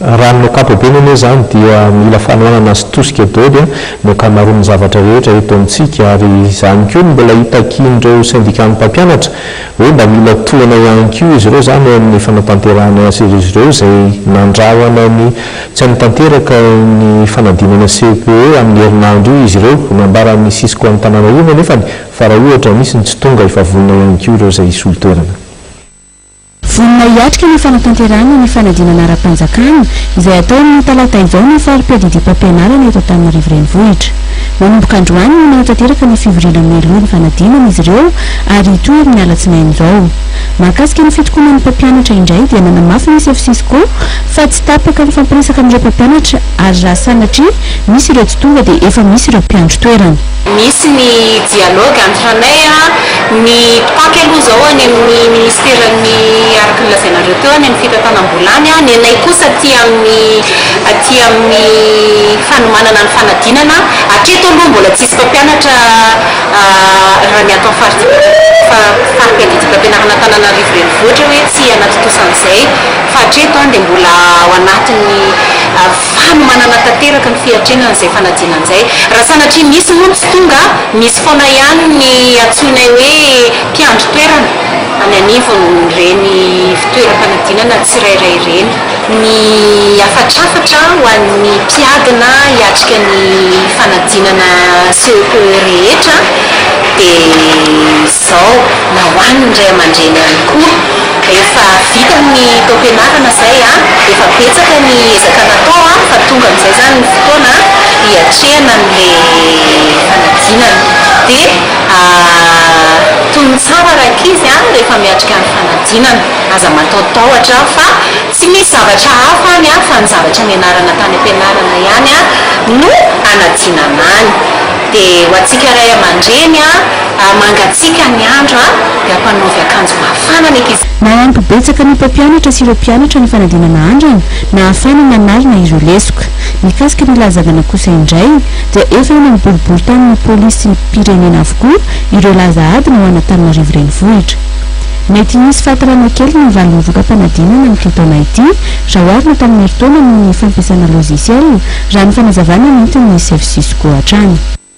Raha amin'ny ankapobeny anie izany dia mila fanohanana sy tosika daholo ny ankamaroan'ny zavatra rehetra eto amintsika ary izany koa no mbola itakian'ireo sendikan'ny mpampianatra hoe mba mila tohana ihany koa izy ireo izany eo amin'ny fanatanterahana ny aser'izy ireo izay nandrahona ny tsy hanatanteraka ny fanadinana cepe amin'ny herinandro io izy ireo nambaran'ny cisco Antananarivo anefany fa raha ohatra misy ny tsy tonga efa vonona ihany koa ireo izay hisolo toerana. Vonona hiatrika ny fanatanterahana ny fanadinana ara-panjakana, izay hatao amin'ny talata izao ny fari-piadidiam-pampianarana eto Antananarivo Renivohitra. Manomboka androany no nahatanteraka ny fivoriana mialoha ny fanadinana izy ireo ary hitohy amin'ny alatsinainy izao. Mahakasika ny fitokonan'ny mpampianatra indray dia nanamafy ny sefo Cisco fa tsy tapaka ny fampiresaka amin'ireo mpampianatra ary raha sanatria misy ireo tsy tonga dia efa misy ireo mpiandry toerana. Misy ny dialogue antiranay a, ny mpitaky aloha izao any amin'ny ministeran'ny araka ny lazainareo teo any amin'ny fitantanam-bola any a, ny anay kosa aty amin'ny aty amin'ny fanomanana ny fanadinana, hatreto aloha mbola tsisy mpampianatra raha ny ato amin'ny faripiadidimpampianaran'Antananarivo Renivohitra hoe tsy hanatontosa an'izay fa hatreto any dia mbola ao anatin'ny fanomanana tanteraka ny fiatrehana an'izay fanadinana izay. Raha sanatria misy moa tsy tonga, misy foana ihany ny antsoinay hoe mpiandry toerana any anivon'ireny fitoeram-panadinana tsirairay ireny. Ny hafatrafatra ho an'ny mpiadina hiatrika ny fanadinana CEPE rehetra dia izay. zao na ho an ny ray amandreny ihany koa efa vita ny taom-pianarana zay an, efa betsaka ny ezaka natao an, fa tonga amizay zany ny fotoana hiatrehana an le fanadinana de tony tsara rankizy an rehefa miatrika ny fanadinana aza mataotaotra fa tsy misy zavatra hafa any an fa ny zavatra nianarana tany am-pianarana ihany an no anadinana any. Dia ho antsika ray aman-dreny a, hamangatsiaka ny andro a, dia hampanaovy akanjo mafana ny ankizy. Nahampy betsaka ny mpampianatra sy ireo mpianatra ny fanadinana andrana nahafahana nanalina ireo lesoka. Mikasika ny lahazavana kosa indray dia efa eny amin'ny boriboritanin'ny polisim-pirenena avokoa ireo laza adina ao Anatananarivo Renivohitra. Mety hisy fahatarana kely ny valin'ny voka-panadinana amin'ity taona ity Zao avy ny mpanomerintaona noho ny fampiasana logiciel, raha ny fanazavana nentin'ny Save Cisco hatrany.